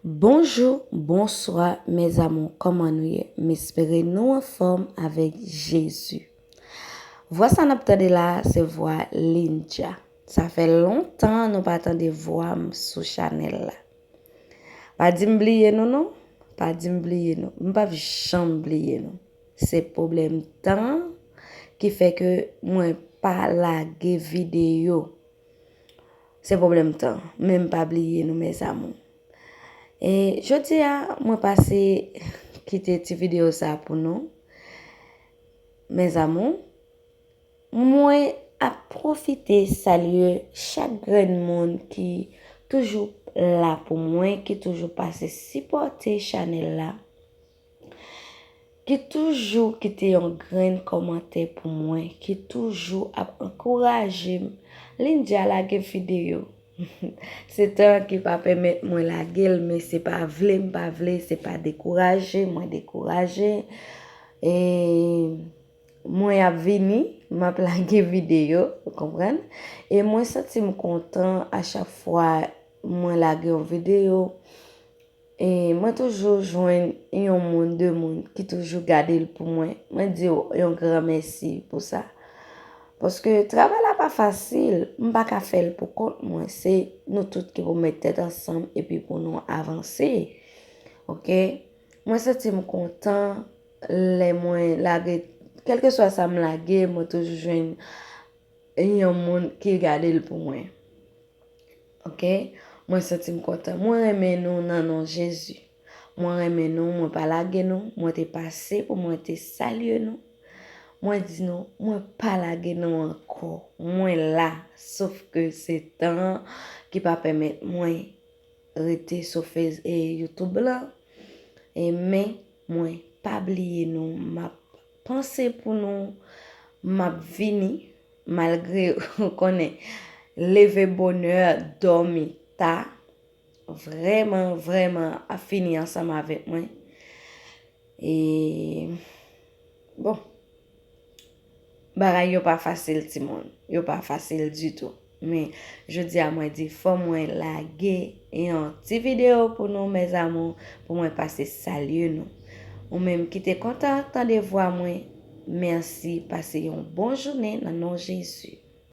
Bonjou bonswa mes amour kòman nou ye m espere nou anfòm avèk Jezi vwa sa nap tande la se vwa Lindja sa fè lontan nou pa tande vwa m sou chanèl la pa di m bliye nou non pa di m bliye nou m pap janm bliye nou se pwoblèm tan ki fè ke mwen pa lage videyo. Se pwoblèm tan, men m pa bliye nou mes amours. E jodi a mwen pase kite ti video sa pou nou. Mes amours, mwen ap pwofite salye chak grenn moun ki toujou la pou mwen, ki toujou pase sipòte chanèl la. Ki toujou kite yon grenn kòmantè pou mwen, ki toujou ap ankouraje m. Lindia lage videyo. Se tan an ki pa pèmèt mwen lage l men se pa vle m pa vle, se pa dekouraje mwen dekouraje. E mwen ap vini, m ap lage videyo, ou konprann? E mwen santi m kontan a chak fwa mwen lage yon videyo. E mwen toujou jwenn yon moun, de moun ki toujou gade l pou mwen. Mwen di w yon gran mèsi pou sa. Paske travay la pa fasil, m pa ka fè l pou kont mwen. Se nou tout ki pou mèt tèt ansanm epi pou nou avanse. Ok? Mwen santi m kontan lè mwen lage, kèlkeswa sa m lage, mwen toujou jwenn yon moun ki gade l pou mwen. Ok mwen santim kontan. Mwen renmen nou nan non jezi mwen renmen nou mwen pa lage nou mwen te pase pou mwen te salye nou mwen di nou mwen pa lage nou ankò mwen la sof ke se tan an ki pa pèmèt mwen rete sou fez e youtube lan e men mwen pa bliye nou map Panse pou nou map vini malgre ou konnen leve bonè domi ta vrèman vrèman ap fini ansanm avèk mwen e bon bagay yo pa fasil timoun yo pa fasil ditou. Men jodi a mwen di fò mwen lage yon ti video pou nou mes amour pou mwen pase salye nou. Ou menm ki te kontan tande vwa mwen merci pase yon bon jounen nan non Jezi.